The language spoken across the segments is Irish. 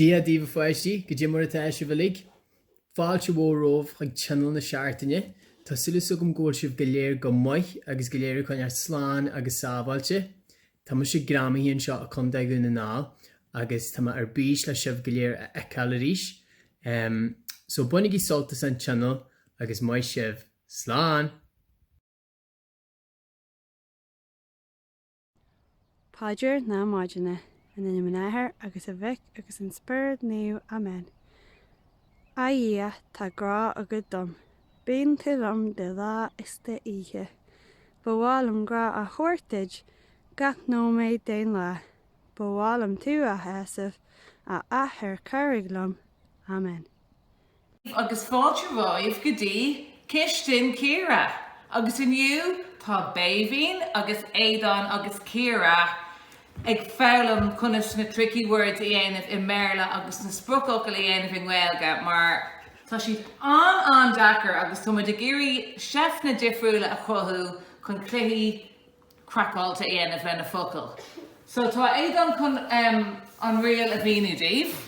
Dia daoibh a pháistí, goidé mar atá sibh uilig. Fáilte mhór romhaibh chuig Tionól na Seachtaine. Tá súil 's agam go bhfuil sibh go léir go maith agus go léir ag coinneáil slán agus sábháilte. Tá mise greamaithe anseo i gCo. Dhún na nGall agus tá mé ar bís le sibh go léir a fheiceáil arís. Em. So bainigí sult as an Tionól agus maith sibh. Slán! Paidir na Maidine. In ainm an Athar agus an Mhic agus an Spioraid Naoimh. Amen. A Dhia, tá grá agat dom. Bíonn tú liom de lá is d'oíche. Ba mhaith liom grá a thabhairt duit gach nóiméad den lá. Ba mhaith liom tú a shásamh, a Athair cabhraigh liom. Amen. Agus fáilte romhaibh go dtí cistin Chiara! Agus inniu tá Béibhinn agus Aodán agus Ciara ag foghlaim conas na tricky words a dhéanamh i mBéarla agus na spriocfhocail a dhéanamh i nGaeilge mar tá siad an-an-deacair agus tá muid ag iarraidh seifteanna difriúla a chruthú chun cluichí craiceáilte a dhéanamh leis na focail. So tá Aodán chun an riail a mhíniú daoibh.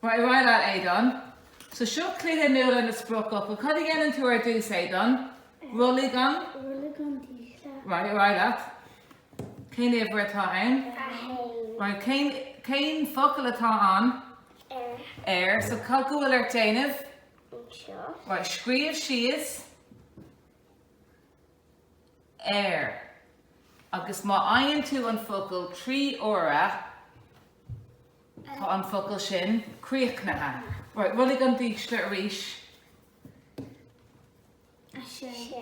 Ar aghaidh leat, Aodán. So seo cluiche nua leis na spriocfhocail. Cad a dhéanann tú ar dtús, Aodán? Rollaigh an? Rollaigh an dísle. Right, ar aghaidh leat. Cén uimhir atá ann? A haon. Right, cén, cén focal atá ann? Ar. Ar, so cad go bhfuil ort déanamh? Anseo. Right, scríobh síos ar agus má fhaigheann tú an focal trí uaire, Tá an focal sin críochnaithe. Right, rollaigh an dísle arís. 6.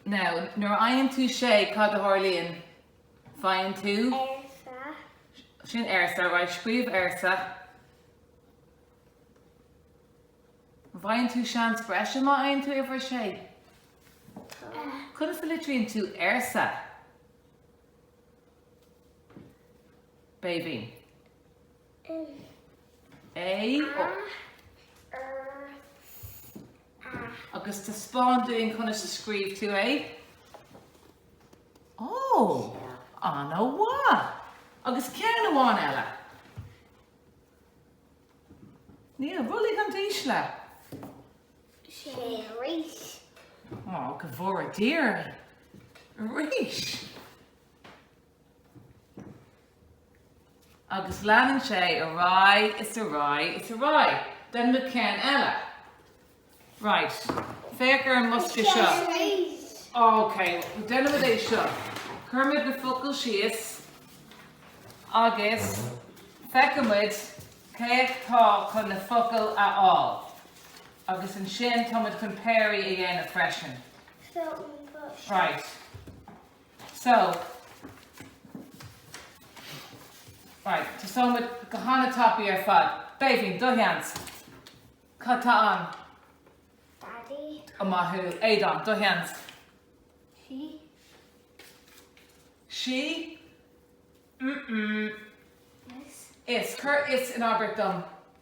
Now, nuair a fhaigheann tú 6, cad a tharlaíonn? Faigheann tú? Arsa. Sin arsa, right, scríobh arsa. An bhfaigheann tú seans breise má fhaigheann tú uimhir 6? Tá. Conas a litríonn tú arsa? Béibhinn. A, agus taispeáin dúinn conas a scríobh tú é. Ó! An-mhaith! Agus ceann amháin eile. Niamh, rollaigh an dísle. Sé arís. Ó, go bhfóire Dia orainn. Arís! Agus leanann sé ar aghaidh is ar aghaidh is ar aghaidh. Then look ceann eile. Right. Féach ar an mbosca seo. OK. Déanfaimid é seo. Cuirfimid na focail síos agus feicfimid cé atá chun na focail a fháil. Agus ansin táimid chun péirí a dhéanamh freisin. Right. So. Right, tosóidh muid go han-tapaidh ar fad. Béibhinn, do sheans. Cad atá ann? Daidí. Ó maith thú. Aodán, do sheans. Sí. Sí? Mm-mm. Is. Is. Cuir is in abairt dom.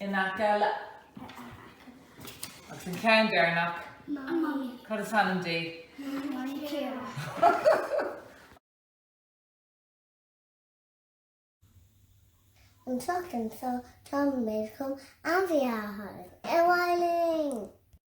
in aice le. Agus an ceann deireanach? Mamaí. Cad is ainm di? Mamaí Ciara. An tseachtain seo, táimid chun ainmhithe a tháirgeadh. Ar aghaidh linn!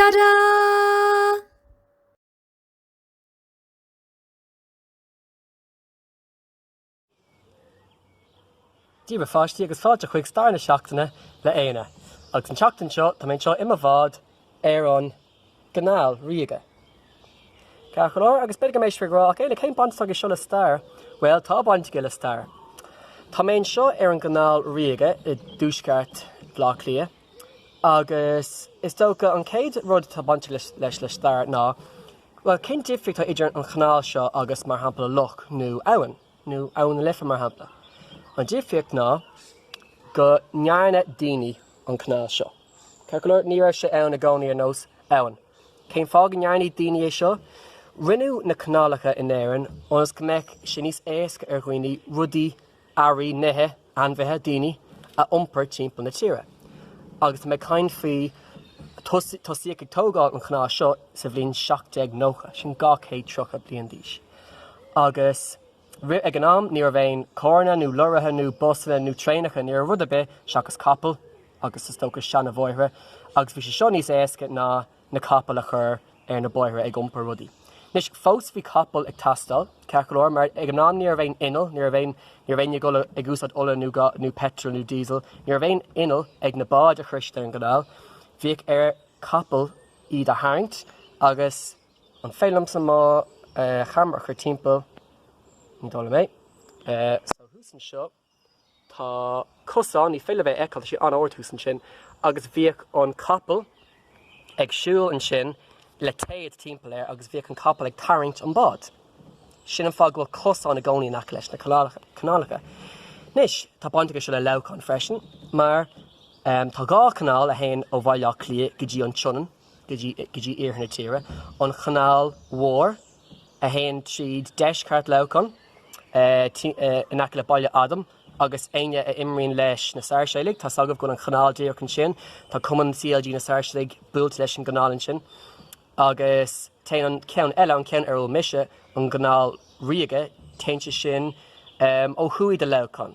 Tada! Dia daoibh a pháistí agus fáilte chuig Stair na Seachtaine le Éanna. Agus an tseachtain seo tá mé anseo i mo bhád ar an gCanáil Ríoga. Ceart go leor, agus b'fhéidir go mbeidh sibh ag rá, ach Éanna, cén baint atá aige seo le stair? Bhuel, tá baint aige le stair. Tá mé anseo ar an gCanáil Ríoga i dtuaisceart Bhaile Átha Cliath. Agus is dócha an chéad rud atá bainteach leis le stair ná, bhuel, cén difríocht atá idir an chanáil seo agus, mar shampla, loch nó abhainn, nó Abhainn na Life, mar shampla? An difríocht ná go ndearna daoine an canáil seo. Ceart go leor, ní raibh sé ann i gcónaí ar nós abhainn. Cén fáth go ndearna daoine é seo? Rinneadh na canálacha in Éirinn ionas go mbeadh sé níos éasca ar dhaoine rudaí a earraí, nithe, ainmhithe, daoine a iompar timpeall na tíre. Agus tá mé ag caint faoi, tosaíodh ag tógáil an chanáil seo sa bhliain 1790, sin dhá chéad tríocha bliain d'aois. Agus ag an am ní raibh aon charranna nó lorraithe nó busanna nó traenacha, ní raibh rud ar bith seachas capaill agus is dócha seanbhóithre agus bhí sé seo níos éasca ná na capaill a chur ar na bóithre ag iompar rudaí. Anois, fós bhí capaill ag teastáil, ceart go leor, mar ag an am ní raibh aon inneall, ní raibh aon, ní raibh aon ag ag úsáid ola nó peitreal nó díosal, ní raibh aon inneall ag na báid. Thíos ar an gcanáil, bhíodh ar capaill iad a tharraingt agus, an féidir liomsa mo cheamara a chur timpeall, ní dóigh liom é, so thuas anseo. Tá cosán, ní féidir libh é a fheiceáil, tá sé an-ard thuas ansin, agus bhíodh an capall ag siúl ansin le téad timpeall air agus bhíodh an capall ag tarraingt an bád. Sin an fáth go bhfuil cosán i gcónaí in aice leis na canálacha. Anois, tá baint aige seo le Leamhcán freisin, mar tá dhá chanáil a théann ó Bhaile Átha Cliath go dtí an tSionainn, go dtí iarthar na tíre, an Chanáil Mhór, a théann tríd deisceart Leamhcáin, in aice le Baile Adaim, agus éinne a imríonn leis na Sairséalaigh, tá 's agaibh go bhfuil an chanáil díreach ansin, tá cumann CLG na Sairséalaigh buailte leis an gcanáil ansin, agus téann an ceann eile, an ceann ar a bhfuil mise, an Chanáil Ríoga, téann sé sin ó thuaidh de Leamhcán.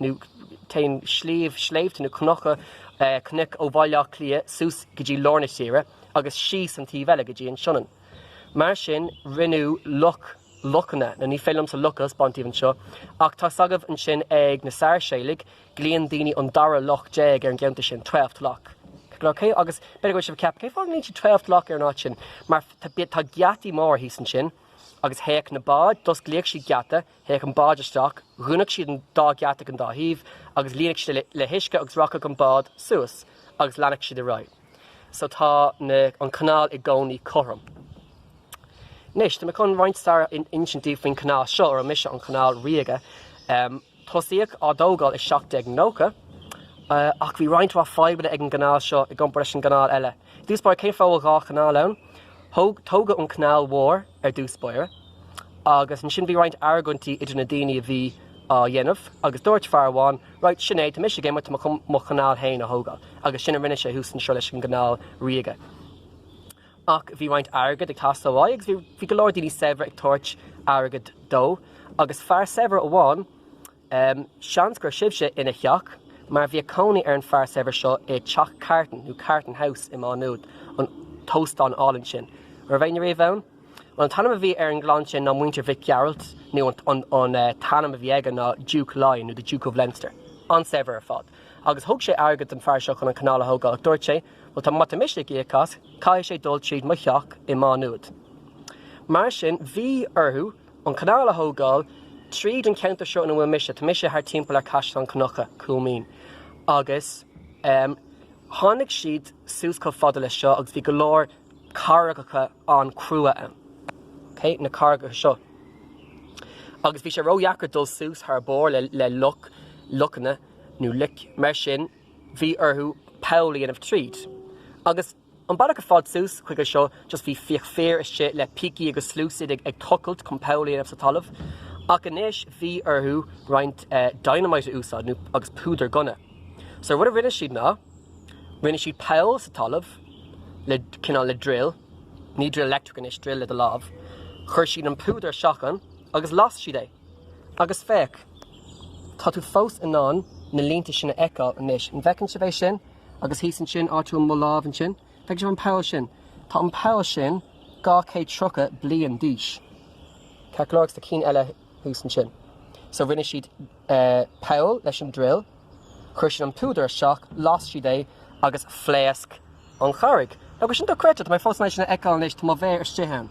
nó téann sliabh, sléibhte nó cnoc, cnoic ó Bhaile Átha Cliath suas go dtí lár na tíre agus síos an taobh eile go dtí an Sionainn. Mar sin, rinneadh loc, locanna, nó ní féidir liomsa loc a thaispeáint daoibh anseo, ach tá s'agaibh ansin ag na Sairséalaigh, glaíonn daoine an dara loc déag ar an gceantar sin, Twelfth Lock. Agus b'fhéidir go bhfuil sibh ag ceapadh, cén fáth go nglaíonn siad Twelfth Lock ar an áit sin? Mar tá geataí móra thíos ansin, agus théadh na báid, d'osclaíodh siad geata, Théadh an bád isteach, dhúnadh siad an dá gheata ag an dá thaobh agus líonadh siad le huisce agus rachadh an bád suas agus leanadh siad ar aghaidh. So tá na, an canáil i gcónaí cothrom. Anois, tá mé chun roinnt stair a insint daoibh faoin canáil seo, ar a bhfuil mise, an Canáil Ríoga. Tosaíodh á dtógáil i 1790 ach bhí roinnt mhaith fadhbanna ag an gcanáil seo i gcomparáid leis an gcanáil eile. I dtús báire, cén fáth a bhfuil dhá chanáil ann? Tógadh an Chanáil Mhór, ar dtús báire agus ansin bhí roinnt argointí idir na daoine a bhí á dhéanamh agus dúirt fear amháin, right, sin é, tá mise ag imeacht, tá mé chun mo chanáil féin a thógáil agus sin a rinne sé thuas anseo leis an gcanáil ríoga. Ach bhí roinnt airgead ag teastáil uaidh agus bhí go leor daoine saibhre ag tabhairt airgead dó agus fear saibhir amháin, Seans go raibh sibhse ina theach, mar bhíodh cónaí ar an bhfear saibhir seo i dTeach Carton, nó Carton House, i Má Nuad, an t-óstán álainn sin. An raibh éinne riamh ann? Bhuel, an t-ainm a bhí ar an gclann sin ná Muintir Mhic Gearailt, nó an t-ainm a bhí aige ná Diúc Laighean, nó the Duke of Leinster. An-saibhir ar fad. Agus thug sé airgead don bhfear seo chun an canáil a thógáil, ach dúirt sé, Bhuel, tá, má tá mise ag íoc as, caithfidh sé dul tríd mo theach i Má Nuad. Mar sin, bhí orthu. an canáil a thógáil tríd an ceantar seo ina bhfuil mise, tá mise thar timpeall ar Caisleán Cnucha, Cúil Mhín, agus ehm, tháinig siad suas chomh fada le seo agus bhí go leor carraigeacha an-crua ann, ok, na carraigeacha seo agus bhí sé ró-dheacair dul suas thar barr le, le loc, locanna nó loic, mar sin bhí orthu poll a dhéanamh tríd agus. An bealach ar fad suas chuige seo just bhí fiche fear istigh le pící agus sluasaid ag tochailt chun poll a dhéanamh sa talamh ach anois bhí orthu roinnt dynamite a úsáid nó agus púdar gunna. So an rud a rinne siad ná rinne siad poll sa talamh le cineál le drill, ní drill electric anois, drill le do lámh, chuir siad an púdar isteach ann agus las siad é. Agus féach, tá tú fós in ann na línte sin a fheiceáil anois, an bhfeiceann sibh é sin? Agus thíos ansin, áit a bhfuil mo lámh ansin, feicfidh sibh an poll sin. Tá an poll sin dhá chéad tríocha bliain d'aois. Ceart go leor, agus tá cinn eile thuas ansin. So rinne siad poll leis an drill, chuir siad an púdar isteach, las siad é agus phléasc an charraig. Agus sin dochreidte, tá mé fós in ann sin a fheiceáil anois, tá mo mhéar istigh ann.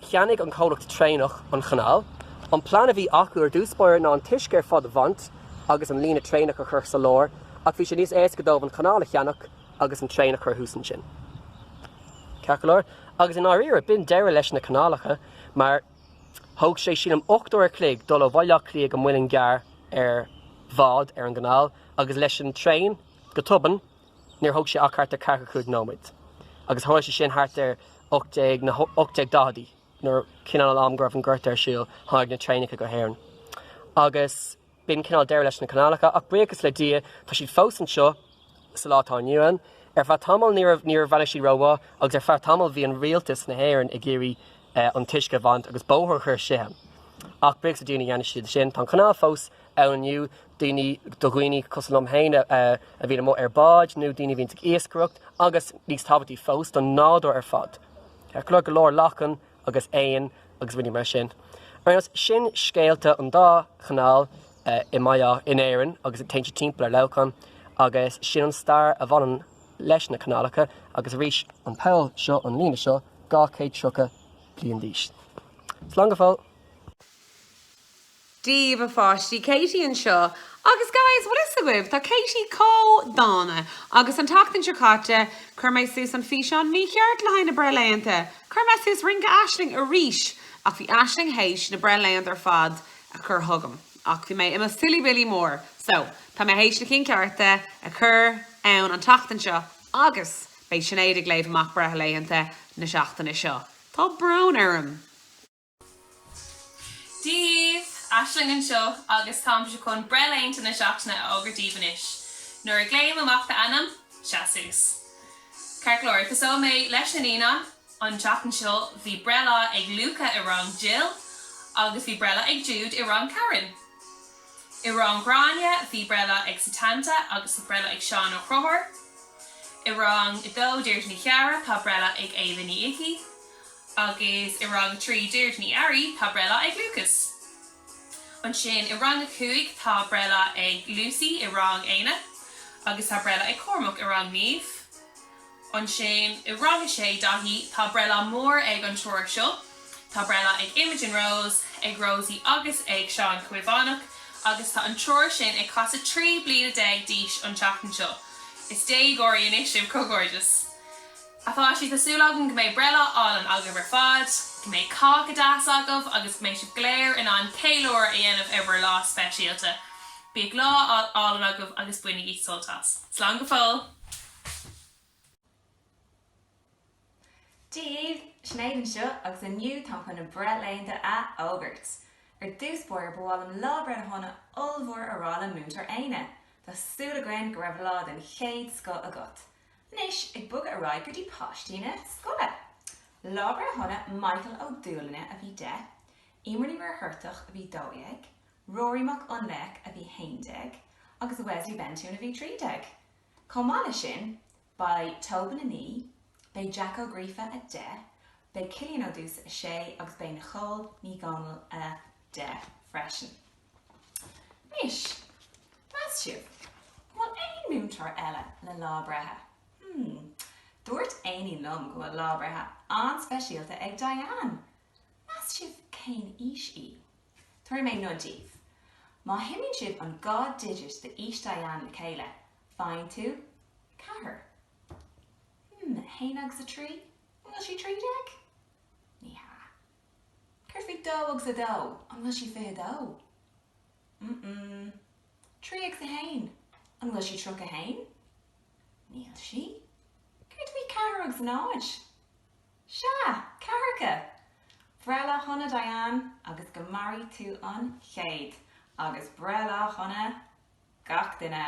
Cheannaigh an comhlacht traenach an chanáil. An plean a bhí acu ar dtús báire ná an t-uisce ar fad a bhaint agus an líne traenach a chur sa lár, ach bhí sé níos éasca dóibh an chanáil a cheannach agus an traein a chur thuas ansin. Ceart go leor, agus i ndáiríre, b'in deireadh leis na canálacha, mar thóg sé, sílim, ocht uair a chloig dul ó Bhaile Átha Cliath go Muileann gCearr ar bhád ar an gcanáil, agus leis an traein, go tobann, Níor thóg sé ach thart ar ceathracha cúig nóiméad, agus tharla sé sin thart ar na hocht déag daicheadaí, nuair, cineál an am go raibh an Gorta ar siúl, tháinig na traenacha go hÉirinn. Agus b'in cineál deireadh leis na canálacha, ach buíochas le Dia, tá siad fós anseo, sa lá atá inniu ann. Ar feadh tamaill ní raibh, níor bhreathnaigh siad rómhaith, agus ar feadh tamaill bhí an Rialtas na hÉireann ag iarraidh an t-uisce a bhaint agus bóthar a chur isteach, ach buíochas le Dia ní dhearna siad sin. Tá an chanáil fós ann inniu, daoine do dhaoine cosúil liom féin a bhíonn amuigh ar bháid nó daoine a bhíonns ag iascaireacht agus níos tábhachtaí fós don nádúr ar fad, ceart go leor, go leor lachain agus éin agus rudaí mar sin. Anois sin scéalta an dá chanáil i mBaile Átha, in Éirinn agus a théann timpeall ar Leamhcán agus sin an stair a bhaineann leis na canálacha agus arís, an poll seo, an líne seo, dhá chéad tríocha bliain d'aois. Slán go fóill! Daoibh a pháistí, Katie anseo. Agus guys, bhfuil 'fhios agaibh, tá Katie chomh dána! Agus an tseachtain seo caite, chuir mé suas an físeán mícheart le haghaidh na breithlaethanta. Chuir mé suas rince Aisling arís, ach bhí Aisling théis na breithlaethanta ar fad a chur chugam. Ach bhí mé i mo silly billy mór. So, tá mé théis na cinn cearta a chur ann an tseachtain seo agus beidh Sinéad ag léamh amach breithlaethanta na seachtaine seo. Tá brón orm! Dia dhaoibh! Aisling anseo agus táimse chun breithlaethanta na seachtaine a fhógairt daoibh anois. Nuair a ghlaoim amach d'ainm, seas suas. Ceart go leor, tosóidh mé leis na naíonáin. An tseachtain seo bhí breithlá ag Luca i rang Jill agus bhí breithlá ag Jude i rang Karen. I rang Ghráinne bhí breithlá ag Setanta agus bhí breithlá ag Seán Ó Conchúir. I rang a dó, Deirdre Ní Chearra, tá breithlá ag Éabha Ní Icí. Agus i rang a trí, Deirdre Ní Fhearraigh, tá breithlá ag Lúcas. Ansin i rang a cúig, tá breithlá ag Lucy, i rang Éanna. Agus tá breithlá ag Cormac, i rang Niamh. Ansin i rang a sé, Daithí, tá breithlá mór ag an triúr seo. Tá breithlá ag Imogen Rose, ag Rosie agus ag Seán Caomhánach. Agus tá an triúr sin ag casadh trí bliana déag d'aois an tseachtain seo. Is déagóirí anois sibh, comhghairdeas! Tá súil agam go mbeidh breithlá álainn agaibh ar fad, go mbeidh cáca deas agaibh agus go mbeidh sibh go léir in ann ceiliúradh a dhéanamh ar bhur lá speisialta. Bíodh lá álainn agaibh agus bainigí sult as. Slán go fóill! Dia dhaoibh! Sinéad anseo agus inniu tá mé chun na breithlaethanta a fhógairt! Ar dtús báire ba mhaith liom lá breithe shona ollmhór a rá le Múinteoir Éanna. Tá súil againn go raibh lá den chéad scoth agat. Anois ag bogadh ar aghaidh go dtí páistí na scoile. Lá breithe shona, Michael Ó Dúlainne a bhí deich, Emer Ní Mhuircheartaigh a bhí dó dhéag, Rory Mac Fhionnlaoich a bhí haon déag agus Wesley Bentún a bhí trí déag. Chomh maith leis sin, beidh Tobin a naoi, beidh Jack Ó Gríofa a deich, beidh Cillian Ó Dúis a sé agus beidh Nicole Ní Dhomhnaill a. deich freisin. Anois, meas sibh, an bhfuil aon múinteoir eile le lá breithe? Hmm. Dúirt Amy liom go bhfuil lá breithe an-speisialta ag Diane! Meas sibh cén aois í? Tabharfaidh mé nod daoibh. Má shuimíonn sibh an dhá digit d'aois Diane le chéile, faigheann tú ceathair. Hmm, a haon agus a trí? An bhfuil sí trí déag? Ní hea. Céard faoi dó agus a dó? An bhfuil sí fiche a dó? Mm-mm. Trí agus a haon? An bhfuil sí tríocha a haon? Níl sí. Céard faoi ceathair agus a náid? Sea! Ceathracha! Breithlá shona, Diane, agus go mairí tú an céad! Agus breithlá shona gach duine!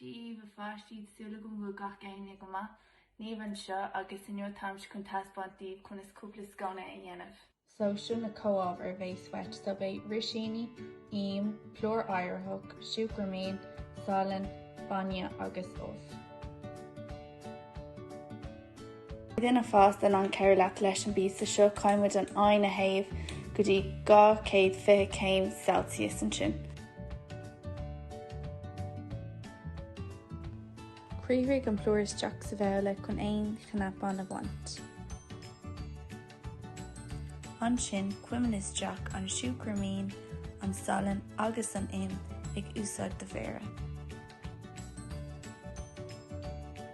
daoibh a pháistí, tá súil agam go bhfuil gach éinne go maith. Niamh anseo, agus inniu táimse chun taispeáint daoibh conas cúpla sconna a dhéanamh. So seo na comhábhair a bheas uait so beidh rísíní, im, plúr éiritheach, siúcra mín, salann, bainne agus ubh. duine fásta in ann cabhrú leat leis an bpíosa seo, caithfidh muid an oigheann a théamh go dtí dhá chéad fiche céim Celsius. Ansin criathraigh an plúr isteach sa bhabhla chun aon chnapáin a bhaint. Ansin cuimil isteach an siúcra mín, an salann agus an im, ag úsáid do mhéara.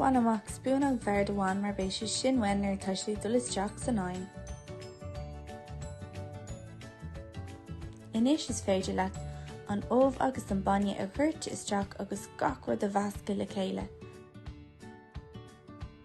Bain amach spúnóg bhoird amháin mar beidh sé sin uainn nuair atá siad ag dul isteach san oigheann. Anois is féidir leat an ubh agus an bainne a dhoirteadh isteach agus gach rud a mheascadh le chéile.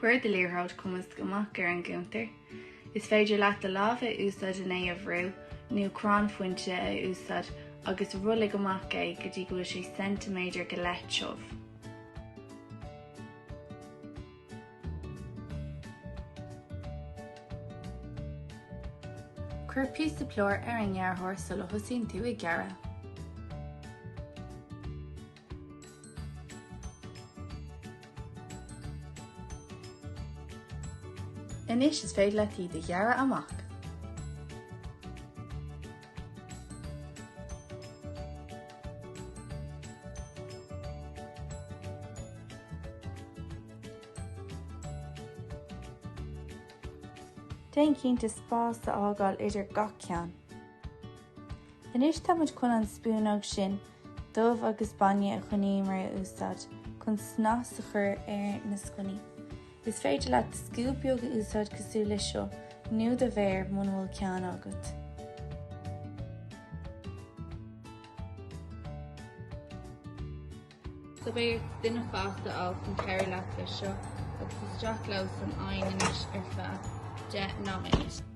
Cuir do liathróid cumasc amach ar an gcuntar. Is féidir leat do lámh a úsáid chun é a bhrú nó crann fuinte a úsáid agus rollaigh amach é go dtí go bhfuil sé ceintiméadar go leith tiubh. Cuir píosa plúir ar an ngearrthóir sula thosaíonn tú ag gearradh. Anois is féidir leat iad a ghearradh amach. Déan cinnte spás a fhágáil idir gach ceann. Anois tá muid chun an spúnóg sin d'ubh agus bainne a choinníomar a úsáid chun snas a chur ar na sconnaí. Is féidir leat scuab beag a úsáid cosúil leis seo, nó do mhéar, muna bhfuil ceann agat. So b'fhéidir duine fásta a fháil chun cabhrú leat leis seo agus isteach leo san oigheann anois ar feadh deich nóiméad.